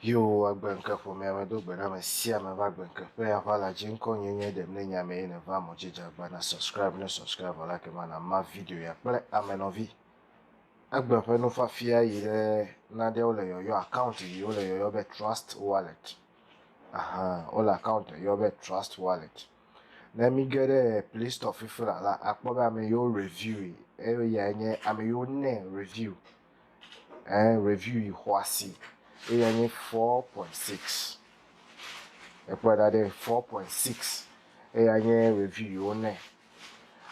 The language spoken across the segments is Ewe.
Yehowa va gbe ŋke ƒomea me do gbe ɖa ame sia ame va gbe ŋke ƒe aʋa la dzi ŋkɔ nye nye ɖem ne nya me ye ne va mɔ dzi dzagba na subscribe ne subscribe vɔ la ke ma na ma video ya kple ame nɔvi egbe ƒe nufafia yi ɖe naɖewo le yɔyɔ account yi wo le yɔyɔ be trust wallet Ahan, wole account ɖe yɔ be Trust Wallet. Ne mi ge ɖe Play Store fifi la la, akpɔ be ame yiwo review yi, eyae nye ame yiwo ne review, ɛɛ review yi xɔasi, eyae nye four point six. Ekpɔe ɖa ɖe four point six. Eyae nye review yi wo ne.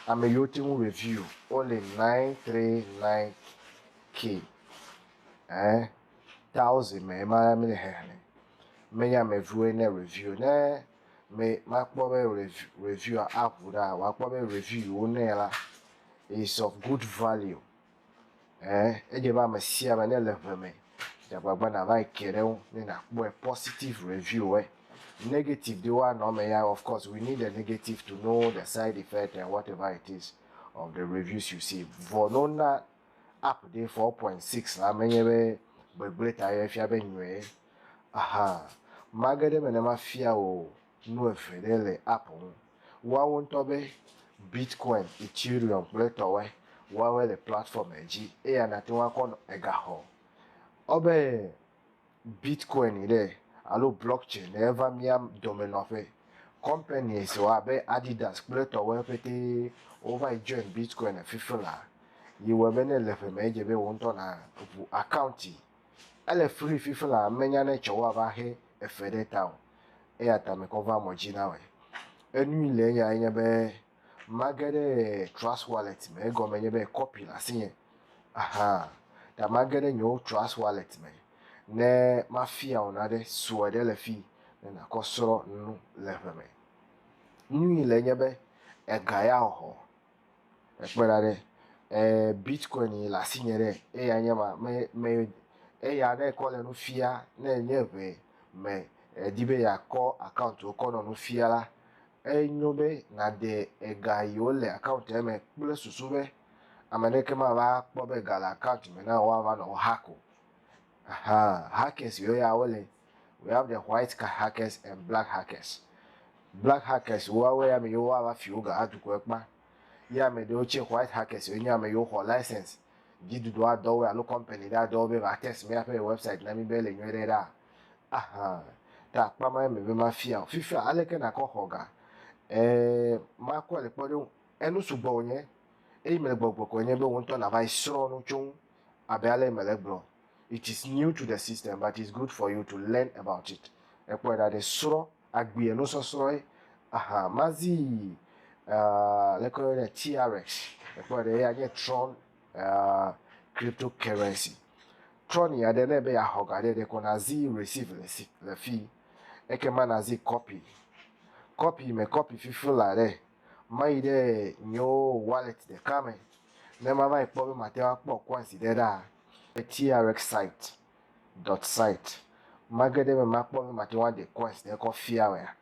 Ame yiwo te ŋu review wole nine three nine K ɛɛ. Tawo zi me ema ya mi le xexlẽ. Me nya me viwo ne review ne me ma kpɔ be review a abu ɖa wa kpɔ be review yi wo ne la is of good value. Eh, edje ba me sia me ne le ʋe me. Dja gbagba na va yi ke ɖe ŋu ne na kpɔe positive review eh. Negative de wa nɔ me ya of course we need the negative to know the side effect and whatever it is of the reviews you see. Vɔ no na Update 4.6 la menye be gbegblẽ ta ye fia be nyɔe hã. Mage ɖe eme ne mafia wò nu eve ɖe le app ŋu. Woawo ŋutɔ be Bitcoin, Ethereum kple etɔwoe. Woawoe le platform dzi eya nate ŋu akɔ nɔ egaxɔ. Ɔ be. Bitkoini ɖe alo blockchain ɖe eva mía dome nɔƒe. Kɔmpani siwo abe Adidas kple etɔwoe petee wova yi join Bitkoini fifi la yi wɔe be ne le ƒe me edze be wò ŋutɔ na ʋu akaunti. Ele free fifi la menya ne tsɔ woava xe efe ɖe ta o. Eya ta mekɔ va mɔ dzi na wɔe. Enui le eyae nye be. Mage ɖe Trust Wallet me egɔme nye be kɔpi le asinye. Aha. Ta mage ɖe nyewo Trust Wallet me ne mafia wò nane sue ɖe le fii ne nàkɔ srɔ̃ nu le ʋe me. Nui le nye be ega ya hɔ ekpe ɖa ɖe e Bitcoin yi le asinye ɖe eya nye ma me me eya ne kɔ le nu fia ne nye ʋe me edi be yeakɔ account wò kɔ nɔ nu fia la Enyo be nàde ega yiwo le akauntia me kple susu be ame aɖeke mava akpɔ be ga le akaunt me na wò woava nɔ wò hack o. Aha, hackers yiwo ya wole, we have the white card hackers and black hackers. Black hackers woawoe ame yiwo woava fi wò ga adukɔe kpa. Ye ame ɖewo tsɛ, white hackers woe nye ame yiwo xɔ license, dziɖuɖu adɔ woe alo company ɖe adɔ wo be va test míaƒe website na mí be ele nyuie ɖe ɖaa. Aha, ɖe akpa ma eme be mafia o. Fifia aleke nakɔ xɔ ga? E, makɔe le kpɔɖeŋu. Enu sugbɔ wònye eye mele gbɔgblɔ kɔe nye be wò ŋutɔ nàva yi srɔ̃ nu tso ŋu abe ale si mele egblɔ. It is new to the system but it's good for you to learn about it. Ekpɔe ɖa ɖe srɔ̃ agbee enusɔsrɔ̃e. Aha, mazii, e, aleke woyɔnɛ? TRX. Ekpɔe ɖa eya nye Tron uh, cryptocurrency. Trɔni aɖe ne be yeaxɔ ga ɖe ɖekɔ nazi receive le si le fi ekema nazi copy copy me copy fifi la ɖe mayi ɖe nyo wallet ɖeka me ne mava yi kpɔ be mate ŋu akpɔ coins ɖe ɖa trx site dot site mage ɖe me makpɔ be mate ŋu aɖe coins ɖe kɔ fia mea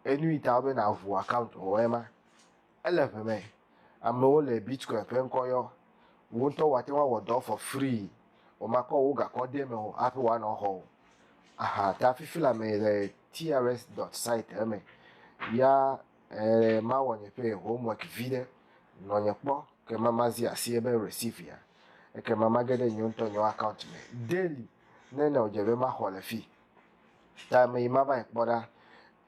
enu yi ta be naʋu account o ema Ele ŋe me amewo le Bitcoin ƒe ŋkɔ yɔ. Wò ŋutɔ wò ate ŋu awɔ dɔ for free. Womakɔ wò gakɔ ɖe eme o hafi woanɔ exɔ o. Aha ta fifi le ame le TRS dot site eme. Ya eh mawɔ nye ƒe homework vi ɖe. Nɔ nye kpɔ ke ma mazi asi ebe receive ya. Eke ma mage ɖe nye ŋutɔ nye account me daily ne ne wodze be maxɔ le fi. Ta me yi mava yi kpɔ ɖa.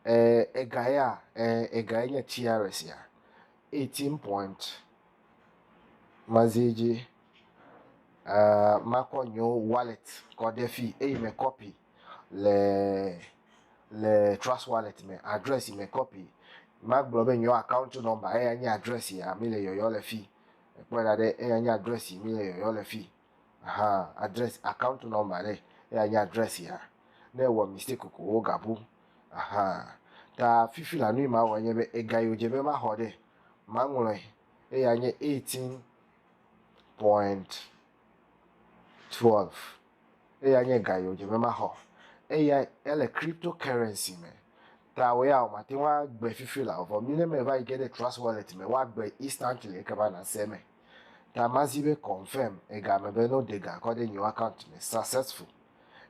eh, ega ya, eh, ega ye nye tiare sia. 18 point. Mazi edzi, eh, makɔ nyo wallet kɔ ɖe fi, eye me copy le, le trust wallet me, address me copy. Magblɔ be nyo account number, eya nye address ya, mi le yɔyɔ le fi. Ekpɔe ɖa ɖe, eya nye address mi le yɔyɔ le fi. Aha address account number ɖe eya nye address ya ne ewɔ mistake ko wo ga bu aha ta fifi la nui ma wɔ nye be ega yo dze be ma xɔ ɖe ma ŋlɔe eya nye 18.12 eya nye ga yo dze be ma xɔ eya ele crypto currency me ta wo ya o ma te wa gbe fifi la vɔ mi ne me va yi ge ɖe trust wallet me wa gbe instantly eke ba na se me. ta mazi be confirm ega me be no dega kɔ ɖe nyiwo account me successful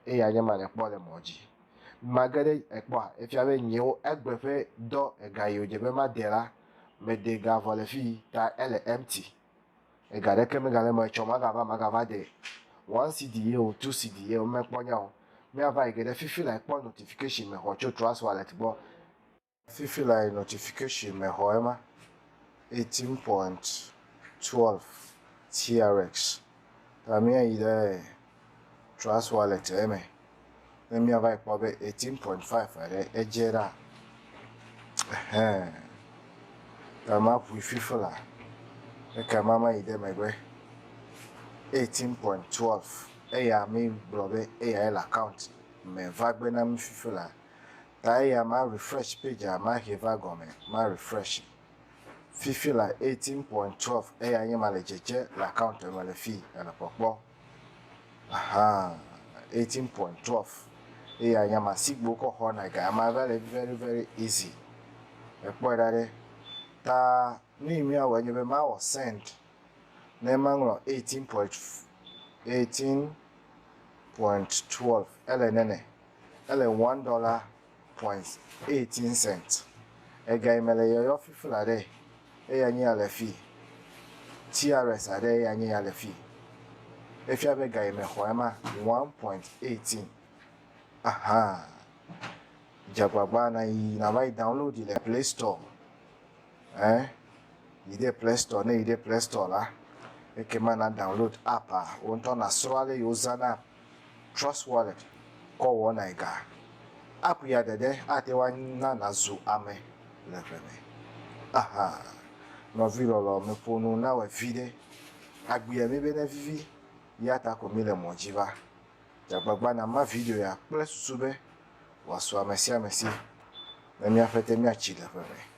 eya nye ma nekpɔ le mɔ dzi mage ɖe ekpɔa efia be nyiwo egbe ƒe dɔ ega yiwo dze be made la me dega vɔ le fii ta ele empty ega ɖeke me gale mɔ etsɔ maga va maga va de one cedi ye o two cedi ye o mekpɔ nyao mia va yi ge ɖe fifi la ekpɔ notification me xɔ tso trust wallet gbɔ. Fifi lae notification me xɔ ema eighteen point twelve TRX ta mía yi ɖe Trust Wallet eme ne mía va yi kpɔ be eighteen point five aɖe edze ɖa ehɛ ta ma ŋui fifi la eke ma ma yi ɖe megbe eighteen point twelve eya mi gblɔ be eyae le account me va gbe na mi fifi la. Ta eya ma refresh page a ma he va gɔme ma refreshi fifi la eighteen point twelve eya nye ma le dzedze le account me le fii ele kpɔkpɔ ahaa eighteen point twelve eya nye ma sigbe wokɔ xɔ na ga ma va le very very easy ekpɔe ɖa ɖe ta nu yi mía wɔ nye be ma wɔ send ne ma ŋlɔ eighteen point eighteen point twelve ele nene Ele one dɔla point eighteen cent. Ega yi me le yɔyɔ fifl aɖe eya nye ya le fi. Crs aɖe eya nye ya le fi. Efia be ga yi me xɔ ema one point eighteen. Ahaa. Dze agbagba na yi na va yi download le play store. Ɛ yi ɖe play store ne yi ɖe play store la ekema na download app a wo ŋutɔ na srɔ ale yi wo zana. TrustWallet kɔ wɔnae ga. App ya ɖeɖe ate ŋu ana nàzu ame le ʋe me. Aha! Nɔvi lɔlɔ, meƒo nu nawɔe viɖe. Agbea mi be nevivi, ya ta ko míle mɔ dzi va. Dze agbagba nàma video ya kple susu be wòasu ame sia ame si ne míaƒe te míatsi le ʋe me.